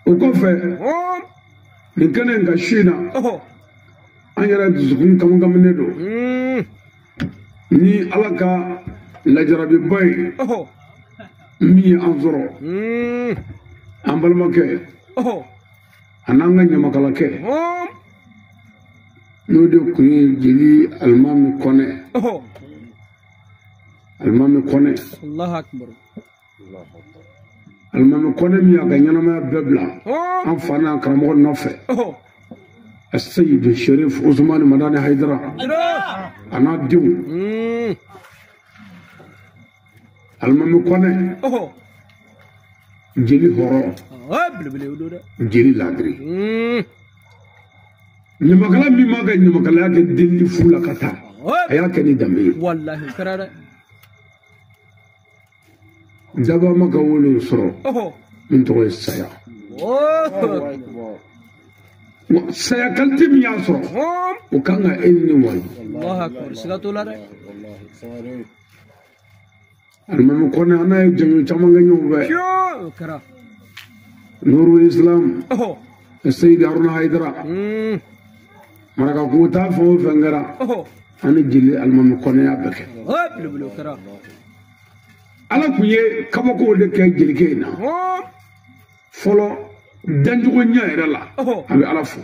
o kɔfɛ nin kɛnɛ in kan su in na an yɛrɛ dusukun kamikaminen don hmm. ni ala ka lajarabiba ye min ye an sɔrɔ hmm. an balimakɛ an'an ka ɲamakalakɛ n'o de kun ye jeli alimami kɔnɛ alimami kɔnɛ alimami kɔnɛ min y'a ka ɲɛnamaya bɛɛ bila an fa n'an karamɔgɔ nɔfɛ aseyidu sherif usumani madani hayidara an'a denw alimami kɔnɛ jeli hɔrɔn jeli ladiri ɲamakala min m'a ka ɲamakalaya kɛ delili fu la ka taa a y'a kɛ ni danbe ye daba ma ka wele sɔrɔ min tɔgɔ ye saya saya kalite min y'a sɔrɔ o kan ka e ni ne waju alimami kɔnɛ an n'a ye jɔnjɔn caman kɛ ɲɔgɔn fɛ nuru islam seyidi haruna hayidara marakakungo taa fɛn o fɛn kɛra an ni jeli alimami kɔnɛ y'a bɛɛ kɛ ala kun ye kabakow de kɛ jelikɛ in na fɔlɔ dancogo ɲɛ yɛrɛ la a bɛ ala fo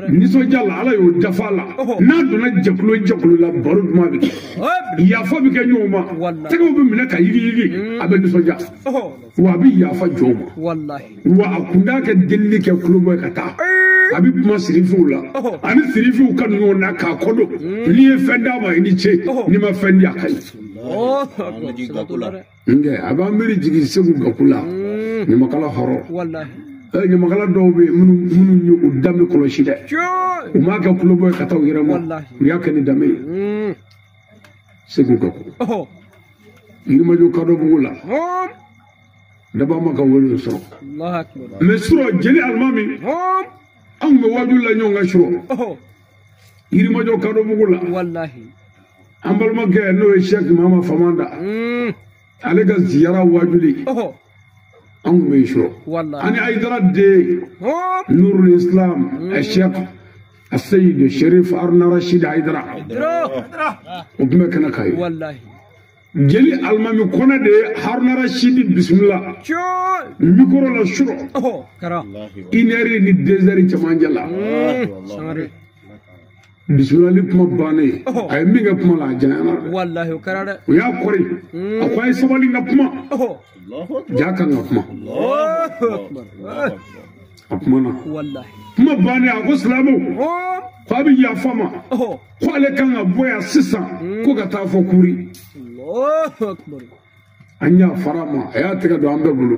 nisɔndiya la ala y'o dafa a la n'a donna jɛkulo jɛkulo la baro duman bɛ kɛ yafa bɛ kɛ ɲɔgɔn ma tɛgɛw bɛ minɛ ka yigiyigi a bɛ nisɔndiya wa a bɛ yafa jɔnw ma wa a kun t'a ka delili kɛ kulobɔ ye ka taa a bɛ kuma sirifiw la ani sirifiw kanuɲɔgɔnw na k'a kɔdɔn n'i ye fɛn d'a ma i ni ce n'i ma fɛn di a ka ɲi nkɛ a b'an miiri jigin segu gaku la ɲamakala hɔrɔn ɲamakala dɔw bɛ minnu minnu ye u danbe kɔlɔsi dɛ u m'a kɛ kulobɔ ye ka taa u yɛrɛ ma u y'a kɛ ni danbe ye segu gaku yirimajɔ kadɔ bugu la daba ma ka wele sɔrɔ mɛ surɔ jeli alimami anw bɛ waju la ɲɔgɔn kan surɔ yirimajɔ kadɔ bugu la an balimakɛ n'o ye sɛki mama famanda ale ka ziyara wajuli an kun bɛ yen surɔ ani ayidara den nurul islam sɛk aseyidu sherif aruna rashid ayidara o tun bɛ kɛnɛ kan yen jeli alimami kɔnɛ de ye haruna rasidi bisimila mikoro la surɔ inɛri ni dezɛri cɛmancɛ la bisimilahi kuma bannen a ye min kɛ kuma la a janyana dɛ walahi o kɛra dɛ o y'a kɔri a ko a ye sabali n ka kuma ja kan ka kuma a kumana kuma bannen a ko silamɛw ko a bɛ yafa a ma ko ale kan ka bɔ yan sisan ko ka taa fo kuri an yafara a ma a y'a tɛgɛ don an bɛɛ bolo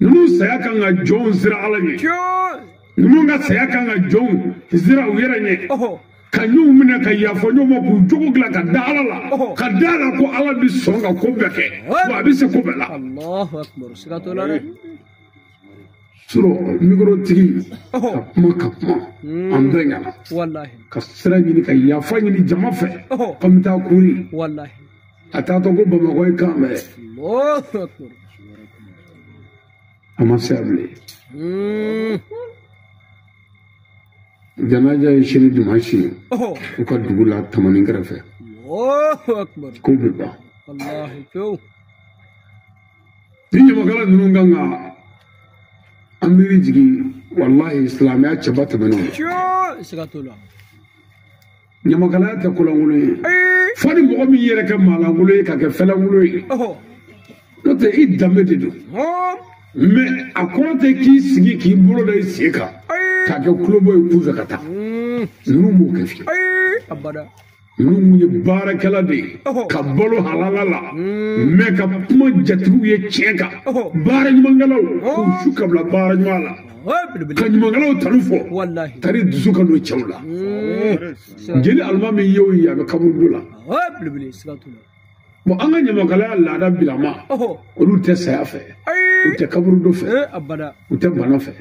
ninnu saya kan ka jɔnw siran ala ɲɛ ninnu ka saya kan ka jɔnw siran u yɛrɛ ɲɛ ka ɲɔgɔn minɛ ka yafa ɲɔgɔn ma k'u jogo dilan ka da ala la ka da a la ko ala bɛ sɔn ka ko bɛɛ kɛ wa a bɛ se ko bɛɛ la surɔ mikorotigi ka kuma ka kuma hmm. an bɛɛ ɲɛna ka sira ɲini ka yafa ɲini jama fɛ k'a bɛ taa kuri a taatɔ ko bamakɔ ye kan bɛɛ a ma se a bilen hmm. janaja ye sini dimansi ye u ka dugu la tamani kɛrɛfɛ ko bɛ ban ni ɲamakala ninnu kan ka an miiri jigin walahi silamɛya cɛba tɛmɛn'o ye ɲamakalaya tɛ kolankolon ye fo ni mɔgɔ min yɛrɛ kɛ maalankolon ye ka kɛ fɛlankolon ye n'o tɛ i danbe de don mɛ a kɔrɔ tɛ k'i sigi k'i bolo da i sen kan k'a kɛ kulobɔ ye kunfɛ ka taa ninnu m'o kɛ fiyewu ninnu ye baarakɛla de ye ka balo halala la mɛ ka kuma jatigiw ye tiɲɛ kan baara ɲumankɛlaw k'u su ka bila baara ɲuman la ka ɲumankɛlaw tanu fɔ tari dusu ka don cɛw la jeli alimami ye o ye a bɛ kaburudo la bon an ka ɲamakalaya laada bilama olu tɛ saya fɛ u tɛ kaburudo fɛ u tɛ bana fɛ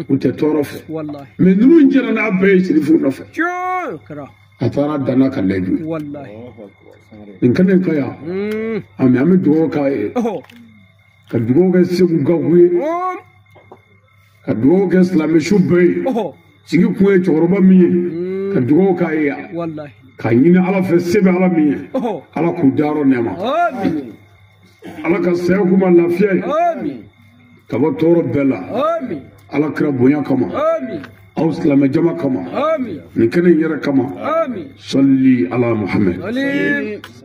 u tɛ tɔɔrɔ fɛ mɛ ninnu jɛra n'a bɛɛ ye sirifu nɔfɛ a taara danna ka lɛju nin kɛlen kɔ yan an bɛ dugawu k'a ye ka dugawu kɛ segu gaku ye ka dugawu kɛ silamɛsu bɛɛ ye sigi kun ye cɛkɔrɔba min ye mm. ka dugawu k'a ye ka ɲini ala fɛ se bɛ ala min ye ala k'u dayɔrɔ nɛɛma ala ka saya k'u ma lafiya ye ka bɔ tɔɔrɔ bɛɛ la ala kira bonya kama aw silamɛ jama kama nin kɛnɛ in yɛrɛ kama sali ala muhamɛd